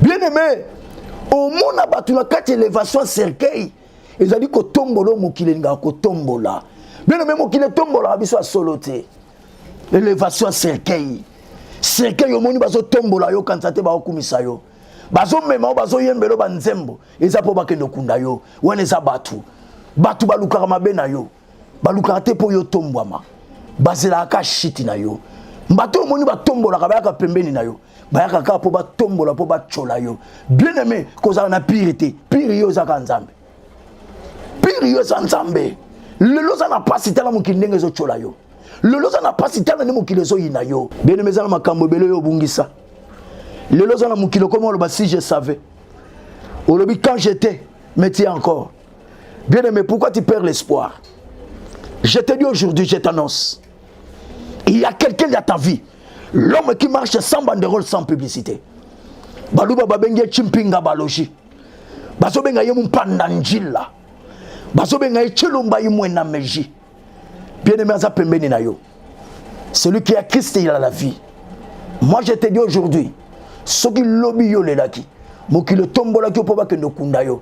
bien aime omona bato na kati elevation ya cercueil ezali kotombola oyo mokili elingaka kotombola bien aime mokili etombolaka biso ya solo te elevation ya cercueil cercueil omoni bazotombola yo kanisa te baokumisa yo bazomema yo bazoyembela yo banzembo eza mpo bakende okunda yo wana eza bato bato balukaka mabe na yo balukaka te mpo yo tombwama bazelaka kaka shiti na yo bato oyo omoni batombolaka bayaka pembeni na yo bayaka kaka mpo batombola mpo batyola yo bien aime kozala na pire te pire yo ezaka nzambe pire yo eza nzambe lelo oza na mpasi tala mokili ndenge ezotyola yo lelo oza na mpasi tala nde mokili ezoyina yo bien aime eza na makambo ebele oyo obungisa lelo oza na mokili okoma oloba si je savais olobi quand j'étais mais ti encore Bien aimé, pourquoi tu perds l'espoir Je te dis aujourd'hui, je t'annonce, il y a quelqu'un dans ta vie, l'homme qui marche sans banderole, sans publicité. Baluba babenge chimpinga baloji. Bazobenga yemu panda njila. Bazobenga ye chilumba yimwe na meji. Bien aimé, aza pembeni na yo. Celui qui a Christ, il a la vie. Moi, je te dis aujourd'hui, ce qui lobby yo lelaki, mokili otombolaki yo mpo bakende okunda yo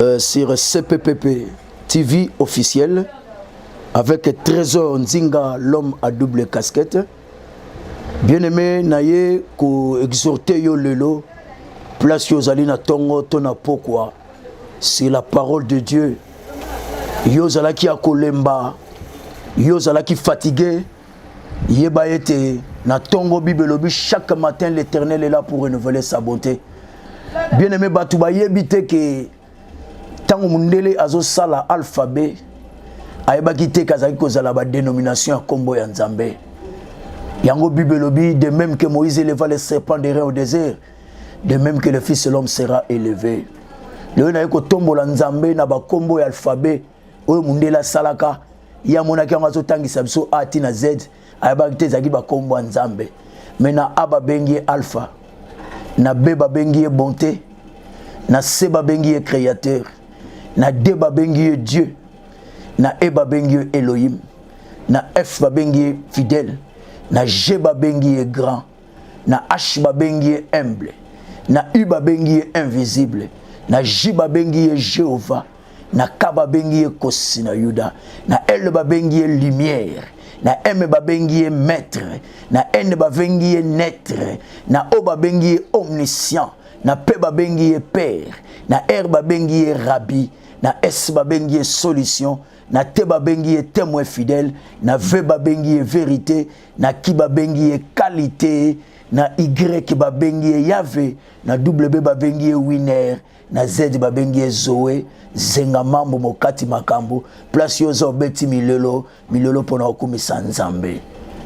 euh, sur CPPP TV officiel avec Trésor Nzinga, l'homme à double casquette. Bien-aimé, naye ko exhorter yo lelo place yo zali na tongo to na pokwa. C'est la parole de Dieu. Yo zalaki akolemba, yo zalaki fatigué. yeba ete na ntongo bible elobi chaque matin l'éternel est là pour renouveler sa bonté bien aimé bato bayebi te ke ntango mondele azosala alphabet ayebaki te ke azalaki kozala badénomination ya nkombo ya nzambe yango bible elobi de même que moïse éleva le serpent de rein au désert de même que le fils de l'homme sera élevé lelo naye kotombola nzambe na bakombo ya alphabet oyo mundele asalaka ye amonaki yango azotangisa biso a ti na z ayebaki te ezalaki bakombo ya nzambe me na a babengi ye alpha na b babengi ye bonte na c babengi ye créateur na d babengi ye dieu na e babengi ye elohim na f babengi ye fidèle na g babengi ye grand na h babengi ye humble na u babengi ye invisible na j babengi ye jehovah na k babengi ye kosi na yuda na l babengi ye lumière na m babengi ye maître na n babengi ye naitre na o babengi ye omniscient na p babengi ye père na r babengi ye rabbi na s babengi ye solution na te babengi ye témoin fidèle na v babengi ye vérité na ki babengi ye kalite na y babengi ye yave na w babengi ye winer na z babengi ye zoe zenga mambo mokati makambo place yo oza obeti milelo milelo mpona kokumisa nzambe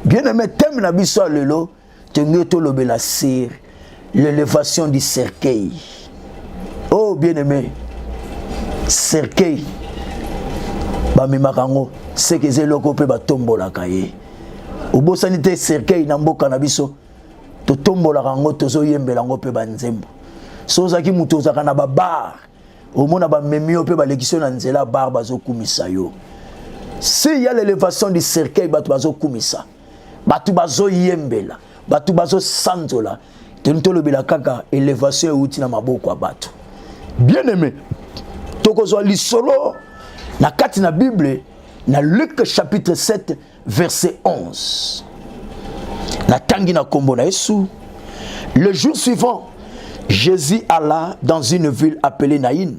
bien aime teme na biso ya lelo tolingi tolobela sere l'elevation du cercueil oh bien aimé cercueil bamemaka yango seke eza eloko mpe batombolaka ye obosani te cercueil na mboka na biso totombolaka yango tozoyembela yango mpe banzembo so ozalaki moto ozalaka na babar omona bamemi yo mpe balekisi yo na nzela bar bazokumisa yo si ya l'elevation du cercueil bato bazokumisa bato bazoyembela bato bazosanzola toni tolobela kaka elevation euti na maboko ya bato bien aimé tokozwa lisolo na kati na bible na luke chapitre 7 verset 11 natangi na nkombo na yesu le jour suivant jésus alla dans une ville appelée naïne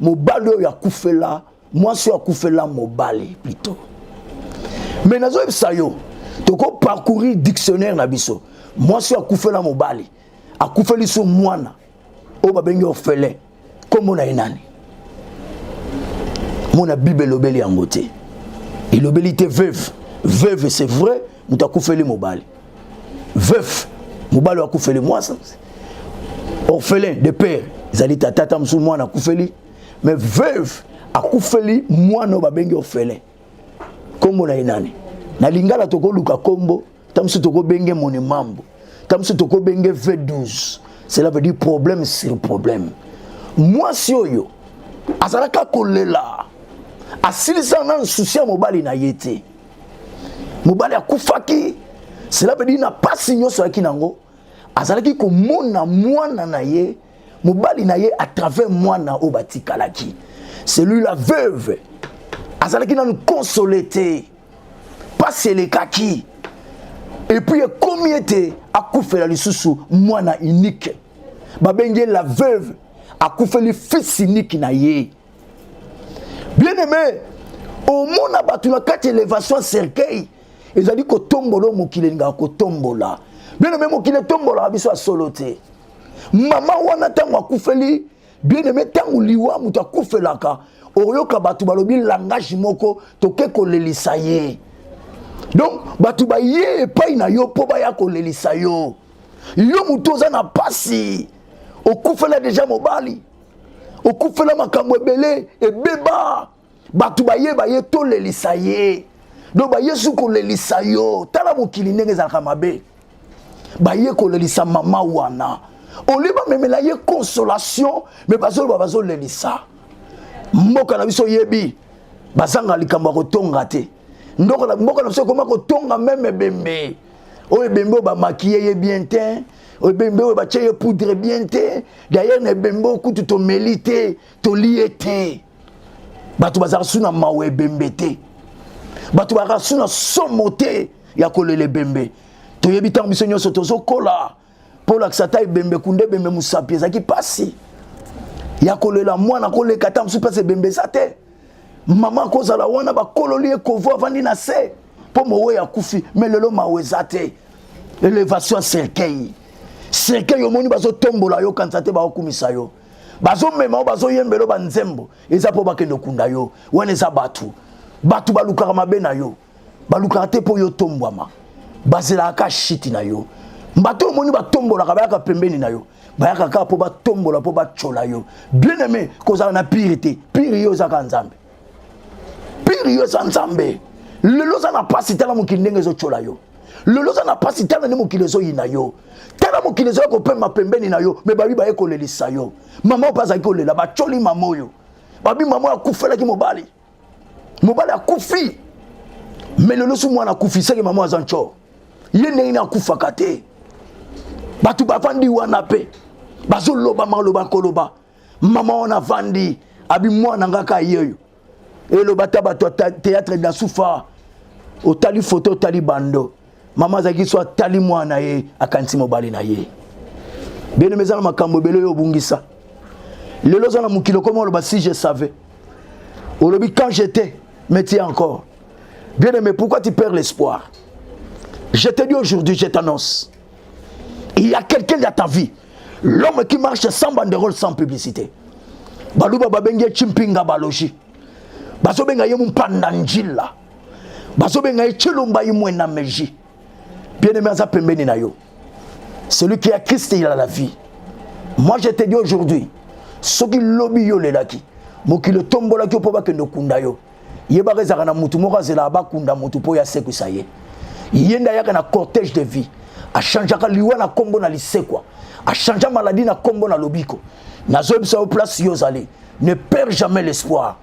mobali oyo akufela mwasi oyo akufela mobali plutôt mais nazoyebisa yo toko parcourir dictionnaire na biso mwasi oyo akufela mobali akufeli so mwana oyo babengi ofele nkombo na ye nani mona bible elobeli yango te elobeli te veuve veuve c'est vrai moto akufeli mobali veuf mobali akufeli mwasi orphelin de père ezali tata ata mosusu mwana akufeli mais veuve akufeli mwana oyo babengi orphelin nkombo na ye nani na lingala tokoluka nkombo ta mosusu tokobenge moni mambo ta mosusu tokobenge v12 cela veut dire problème sur problème mwasi oyo azalaka kolela asilisa na nsusi ya mobali na ye te mobali akufaki cela veut dire na pasi nyonso ayaki nango azalaki komona mwana na ye mobali na ye à travers mwana oyo batikalaki celui la veuve azalaki nanu konsole te mpasi elekaki epuis ekomi ete akufela lisusu mwana unike babengi ye la veuve akufeli fils unike na ye bien aime omona bato na kati elevation ya cercueil ezali kotombola oyo mokili elingaka kotombola bien aime mokili etombolaka biso ya solo te mama wana ntango akufeli bien aime ntango liwa moto akufelaka oyoka bato balobi langage moko toke kolelisa ye donc bato baye epai na yo mpo baya kolelisa yo yo moto oza na mpasi okufela deja mobali okufela makambo ebele ebeba bato bayeba ye tolelisa ye donc bayesu kolelisa yo tala mokili ndenge ezalaka mabe baye kolelisa mama wana olie bamemela ye consolation me bazoloba bazolelisa mboka na biso oyebi bazanga likambo ya kotonga te ndoko la mboka na biso ekoma kotonga meme ebembe oyo ebembe oyo bamakiye ye bien te oyo ebembe oyo batye ye poudre bien te dayere na ebembe oyo kutu tomeli te toli ye te bato bazalaka su na mawa ebembe te bato bazalaka su na somo te ya kolela ebembe toyebi ntango biso nyonso tozokola mpo olakisa ata ebembe kunda ebembe mosapi ezalaki mpasi ya kolela mwana koleka ata mosusu mpasi ebembe eza te mama akozala wana bakololi ye kovo avandi na se mpo mowe akufi me lelo mawa eza te elevation ya cercueil cercueil omoni bazotombola yo kanisa te baokumisa yo bazomema yo bazoyembela yo banzembo eza mpo bakende okunda yo wana eza bato bato balukaka mabe na yo balukaka te mpo yo tombwama bazelaka kaka shiti na yo bato omoni batombolaka bayaka pembeni na yo bayaka kaka mpo batombola mpo batyola yo bien aime kozala na pire te pire yo ezaka nzambe pire yo eza nzambe lelo oza na mpasi tala mokili ndenge ezotyola yo lelo oza na mpasi tala nde mokili ezoyina yo tala mokili ezoya kopema pembeni na yo me babi baye kolelisa yo mama oyo mpe azalaki kolela batyoli mama oyo babi mama oyo akufelaki mobali mobali akufi me lelo so mwana akufi seke mama aza nco ye ndenge nini akufaka te bato bavandi wana mpe bazoloba maloba koloba mama wana avandi abi mwana nga ka yeyo eloba ta bato ya théâtre de la soufa otali foto otali bando mama azalaki so atali mwana na ye akanisi mobali na ye beneme eza na makambo ebele oyo obungisa lelo oza na mokili okoma oloba si je savais olobi quand j'étais mais tu encore bien aimé pourquoi tu perds l'espoir je te dis aujourd'hui je t'annonce il y a quelqu'un dans ta vie l'homme qui marche sans banderole sans publicité baluba babengi ye chimpinga balogi bazobenga ye mumpanda njila bazobenga ye celomba ye mwena meji bien aimé aza pembeni na yo celui qui a christ il a la vie moi je te dis aujourd'hui soki lobi yo olelaki mokili otombolaki yo mpo bakende okunda yo yebaka ezalaka na motu moko azelaka bakunda motu mpo yasekwisa ye ye nde ayaka na cortège de vie achangeaka liwa na nkombo na lisekwa achangea maladi na nkombo na lobiko nazoyebisa yo place yo ozali ne perd jamais l'espoir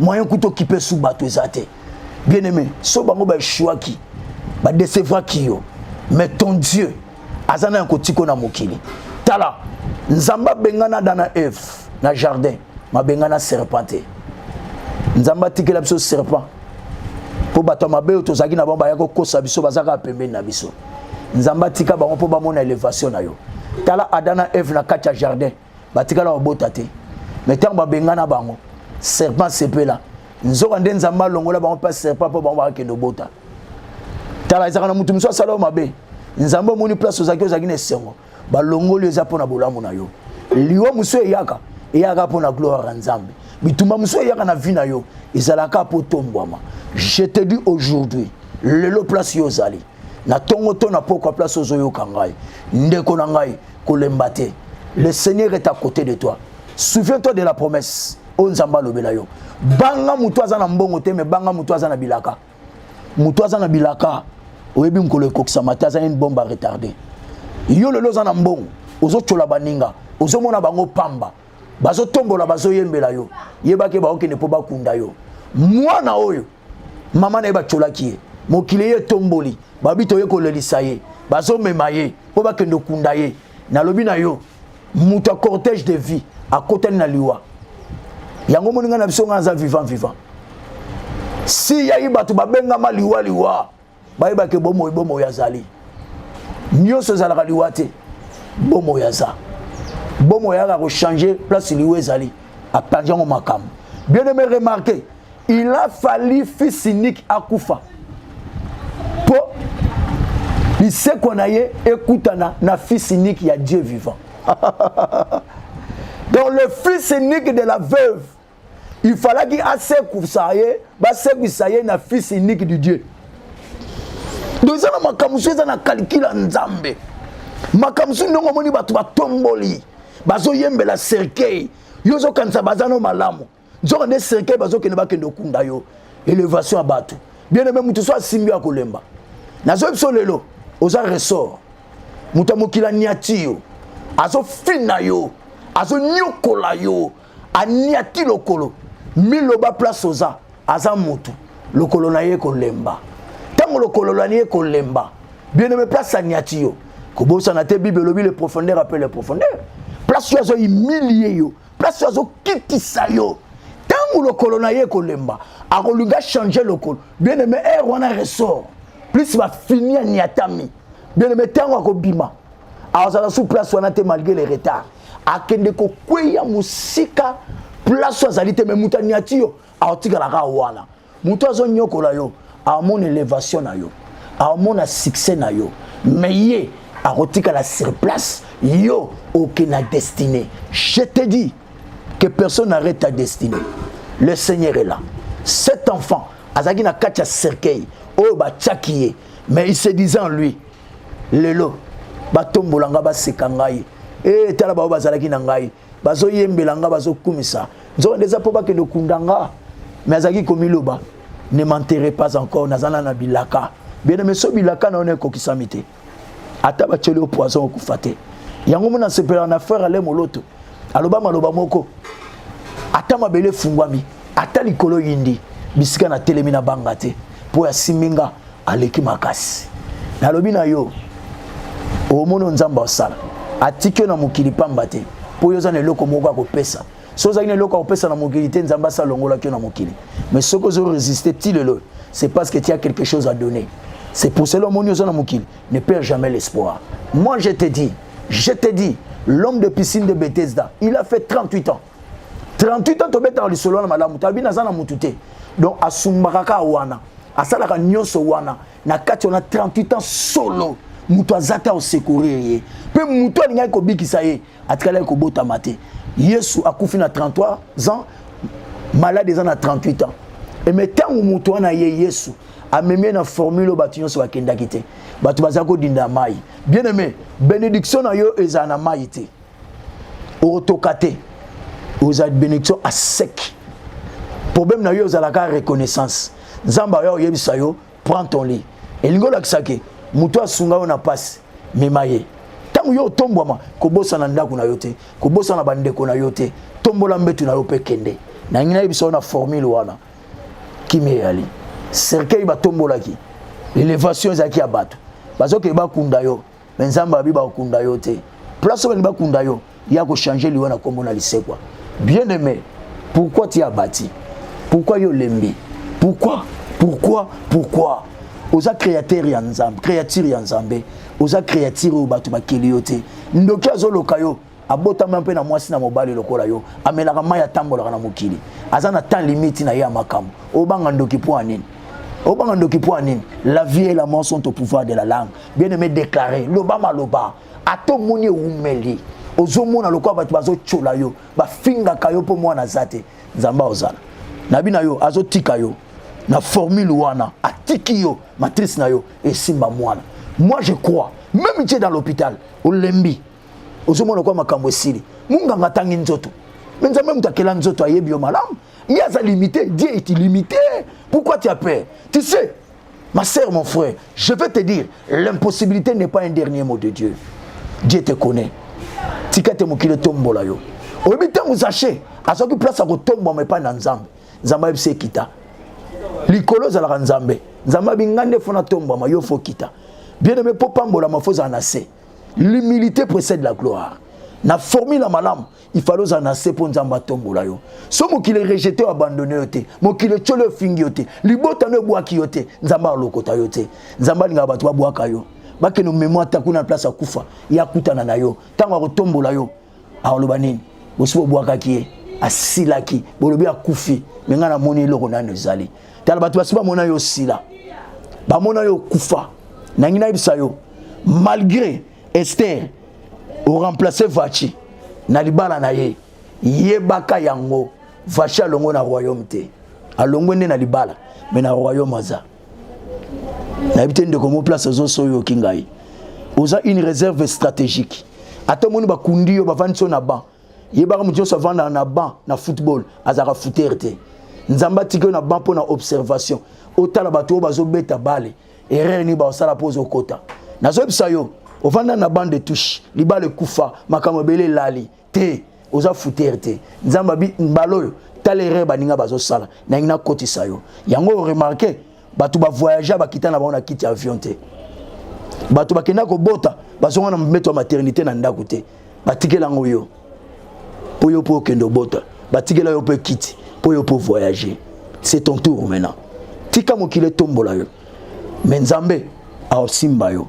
moyen kuta okipe su bato eza te bien aimé so bango baechuaki badecevraki yo mais ton dieu aza na ya kotiko na mokili tala nzambe abengana ada na eve na jardin mabengana serpent te nzambe atikela biso serpent mpo bato ya mabe oyo tozalaki na bango baya kokosa biso baza kaka pembeni na biso nzambe atika bango mpo bamona elevation na yo tala ada na eve na kati ya jardin batikala babota te me ntango babengana bango serpent sepela nzoka nde nzambe alongola bango mpe serpent mpo bango bakakende obota tala ezalaka na moto mosusu asala yo mabe nzambe omoni place ozalaki ozalaki na esengo balongoli eza mpo na bolamu na yo liwa mosusu eyaka eyaka mpo na gloire ya nzambe bitumba mosusu eyaka na vie na yo ezalaka mpo tombwama je te dis aujourd'hui lelo place yo ozali na tongo to na pokwa place ozoyoka ngai ndeko na ngai kolemba te le seigneur est à côté de toi souviens toi de la promesse oyo nzambe alobela yo banga motu aza na mbongo te me banga motu aza na bilaka motu aza na bilaka oyebi mokolo ekokisama te aza nini bombe a retarde yo lelo oza na mbongo ozotyola baninga ozomona bango pamba bazotombola bazoyembela yo yebaki baokende mpo bakunda yo mwana oyo mama na ye batyolaki ye mokili ye etomboli babi toye kolelisa ye bazomema ye mpo bakende okunda ye nalobi na yo moto ya cortège de vie akotani na liwa yango moninga na biso ngai aza vivant vivant si yai bato babengama liwa liwa bayeba ke bomoi bomoi azali nyonso ezalaka liwa te bomoi aza bomoi ayaka kochange place liwa ezali apanzi yango makambo bien aimé remarqué il a fallu fils unique akufa mpo lisekwa na ye ekutana na fils unique ya dieu vivant donc le fils unique de la veuve il falaki asekusa ye basekwisa ye na fils unique du dieu donc eza na makambo mosusu eza na kalkile ya nzambe makambo mosusu ndenge omoni bato batomboli bazoyembela cercueil yo ozokanisa baza no malamu nzoka nde cercueil bazokende bakende okunda yo elevation ya bato bien aime moto so asimbi ya kolemba nazoyi biso lelo oza ressort moto ya mokili aniati yo azofina yo azonyokola yo aniati lokolo miloba place oza aza mutu lokolo na ye kolemba ntango lokolo na ye kolemba bieneme place aniati yo kobosana te bible elobi le profondeur ape le profondeur place oyo azohumilie yo place oyo azokitisa yo ntango lokolo na ye kolemba akolinga change lokolo bien aime aire wana ressort plus bafini aniatami bien aime ntango akobima azala sous place wana te malgré le retard akende kokweya mosika place azali te me moto aniati yo aotikalaka wana moto azonyokola yo amona elevation na yo amona succès na yo me ye akotikala sur place yo oke na destinée je te dis que personne n'arrête ta destinée le seigneur est là cet enfant azalaki na kati ya cercueil oyo batiaki ye mais il se disait en lui lelo batombola ngai baseka ngai e tala baoyo bazalaki na ngai bazoyembela ngai bazokumisa nzoka nde eza mpo bakende okunda ngai me azalaki komiloba ne m'enterre pas encore naza na na bilaka bien me so bilaka na yo na ekokisami te ata batyoli yo poison okufa te yango mona asepelaka na frère ale moloto aloba maloba moko ata mabele efungwami ata likolo yindi bisika na telemi na banga te mpo ya siminga aleki makasi nalobi na yo omoni oyo nzambe asala atiki yo na mokili pamba te mpo yo oza na eloko moko ya kopesa soki ozalaki na eloko ya kopesa na mokili te nzambe asi alongolaki yo na mokili mais soki ozo resiste ti lelo c'est parce que tu as quelque chose à donner c'est pour cela omoni oza na mokili ne perd jamais l'espoir moi je te dis je te dis l'homme de piscine de bethesda il a fait 38 ans 38 ans tobetaka lisolo wana malamu talobi naza na motu te donc asumbaka kaka wana asalaka nyonso wana na kati wana 38 ans solo moto aza te aosekorir ye mpe moto alingaki kobikisa ye atikalaki kobotama te yesu akufi na 33 ans malade eza na 38 ans eme ntango moto wana ye yesu amemi ye na formule oyo bato nyonso bakendaki te bato bazali kodinda mai bien aime benediction na yo ezala na mai te okotoka te ozala bénédiction à sec problème na yo ozalaka reconnaissance nzambe ayo oyebisa yo prends ton lit elingi olakisa ke moto asunga yo na mpasi mema ye ntango yo otombwama kobosana ndako na yo te kobosana bandeko na yo te tombola mbetu na yo mpe kende nangi nayebisa yo na formule wana kimi eyali cercueil batombolaki elevation ezalaki ya bato bazokende bakunda yo me nzambe abi bakokunda yo te place oyo balingi bakunda yo ya kochange liwa na nkombo na lisekwa bien aimé pourquoi ti abati pourquoi yo olembi pourquoi pourquoi pourquoi oza créateur ya nzambe créature ya nzambe oza créature oyo bato bakeli yo te ndoki azoloka yo abotama mpe na mwasi na mobali lokola yo amelaka mai atambolaka na mokili aza na temps limite na ye ya makambo obanga ndoki mpo ya nini obanga ndoki mpo ya nini la vie et la mort sont au pouvoir de la langue bien aimé déclaré loba maloba ata omoni ewumeli ozomona lokola bato bazotyola yo bafingaka yo mpo mwana aza te nzambe aozala na bina yo azotika yo na formule wana atiki yo matrice na yo esimba mwana moi je crois même tie dans l'hôpital olembi ozomona kwa makambo esili munganga atangi nzoto me nzambe moto akela nzoto ayebi yo malamu mi aza limité dieu est illimité pourquoi tu as peur tu sais ma sœur mon frère je vais te dire l'impossibilité n'est pas un dernier mot de dieu dieu te connaît tika te mokili etombola yo oyebi ntango zache azwaki place ya kotombwama epai na nzambe nzambe ayebisi ekita likolo ezalaka nzambe nzambe abi ngai nde fo natombwama yo fo kita bien aime mpo pambolama fo ozala na se l'humilité précède la gloire na formule ya malamu ifale ozala na se mpo nzambe atombola yo so mokili erejete yo abandone yo te mokili etyoli efingi yo te libota no ebwaki yo te nzambe alokota yo te nzambe alingaka bato babwaka yo bakende omemwa ata kuna na place ya kufa ye akutana na yo ntango akotombola yo akoloba nini bosi bobwakaki ye asilaki bolobi akufi me ngai namoni eloko nano ezali tala bato basi bamona yo osila bamona yo okufa nangi nayebisa yo malgré ester oremplace vaci na libala na ye yebaka yango vaci alongo na royaume te alongwe nde na libala me na royaume aza nayebi te ndeko mo place ozoso oyoki ngai oza une réserve stratégique ata omoni bakundi yo bavandi so na ban yebaka moto nyonso avandaka na ban na football azalaka foutere te nzambe atiki yo na ban mpo na observation otala bato oyo bazobeta bale erreur nini baosala mpo ozokota nazoyebisa yo ovanda na bande de touche libala ekufa makambo ebele elali te oza futere te nzambe abi mbala oyo tala erreur baninga bazosala nalingi nakotisa yo yango oremarke bato bavoyagea bakita na bango na kiti ya avion te bato bakenda kobota bazonga na mbeto ya maternité na ndako te batikela yango yo mpo yo mpo okende obota batikela yo mpe kiti mpo yo mpo voyager c'est ton tour maintenant tika mokili etombola yo me nzambe aosimba yo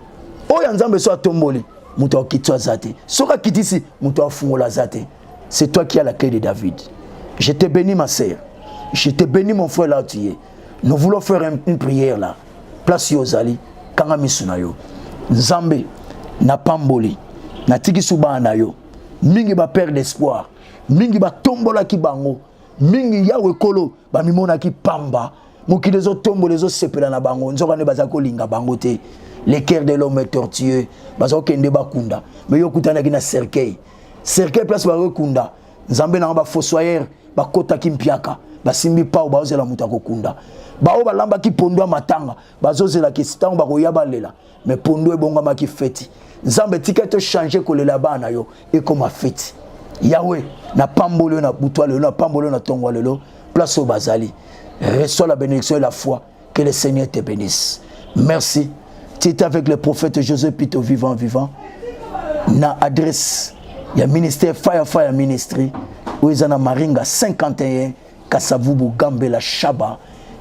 oyo ya nzambe so atomboli moto akitisi aza te soki akitisi moto afungola aza te c'est toi qui as la clé de david je te bénis ma sœur je te bénis mon frère là tu es nous voulons faire une prière là place yo ozali kanga misu na yo nzambe napamboli natikisi bana na yo mingi bapere d'espoir mingi batombolaki bango mingi yawe kolo bamimonaki pamba mokili ezotombola ezosepela na bango nzoka nde baza kolinga bango te le cœur de l'homme est tortueux baza kokende bakunda me yo okutanaki na cercueil cercueil place bakokunda nzambe na yango bafossoyeur bakotaki mpiaka basimbi pao bazozela moto akokunda baoyo balambaki pondo ya matanga bazozelaki ntango bakoya balela me pondu ebongamaki feti nzambe tika to change kolela bana na yo ekoma feti yawe napamboli yo na butwa lelo napamboli yo na ntongo lelo place oyo bazali reçois la bénédiction et la foi que le seigneur te bénisse merci tu étais avec le prophète josé pito vivant vivant na adresse ya ministère firefire ministry oyo eza na maringa 51 Kasavubu, Gambela, Shaba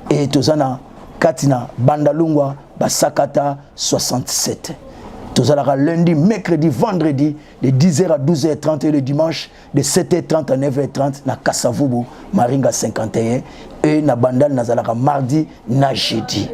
e toza na kati na Bandalungwa, Basakata 67. Tozalaka lundi, mercredi, vendredi de 10h à 12h30 et le dimanche de 7h30 à 9h30 na Kasavubu, Maringa 51 et na Bandal nazalaka mardi na jeudi.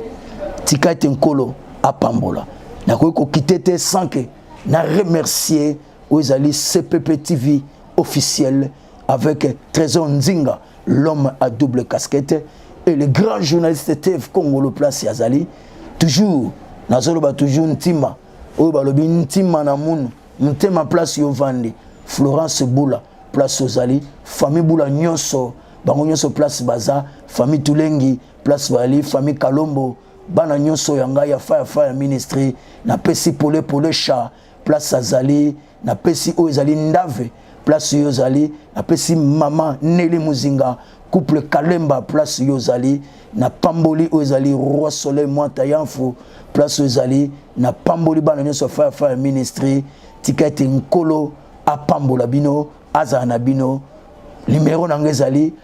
Tika ete nkolo apambola. Nakoki kokite te sans que na remercier oyo ezali CPP TV officiel avec Trésor Nzinga, l'homme à double casquette, et le grand journaliste Tev Kongolo Place Yazali, toujours, nazoloba toujours Ntima, oyo balobi Ntima na munu, Ntema Place Yovandi, Florence Boula, Place Ozali, famille Boula Nyoso, bango Nyoso Place Baza, famille Tulengi, Place Bali, famille Kalombo, bana Nyoso ya ngai ya Fire Fire Ministry, na pesi pole pole chat, place azali napesi oyo ezali ndave place yo ozali napesi mama neli muzinga couple kalemba place yo ozali na pamboli oyo ezali roi soleil mwanta yanfu place oyo ezali na pamboli bana nyonso ya fire fire ministry tika ete nkolo apambola bino azala na bino nimero na yango ezali